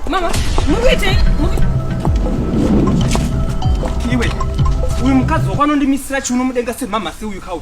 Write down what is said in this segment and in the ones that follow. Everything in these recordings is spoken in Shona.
Mama, move it, move it. iwe uyu mukadzi wako anondimisira chiuno mudenga semhamha seuyu kauyu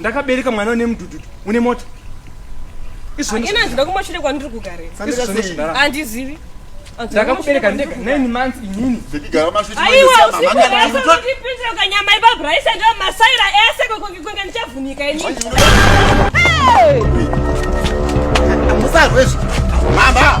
ndakabereka mwana une mudududu une mota ina handina kumashure kwandiri kugareandizivi ndakakubereka ndega nine months inini aiwa usiuaipindira ukanyama ipa braisa ndo masaira ese kwekwekwenge ndichavhunika inini musarwezvo mama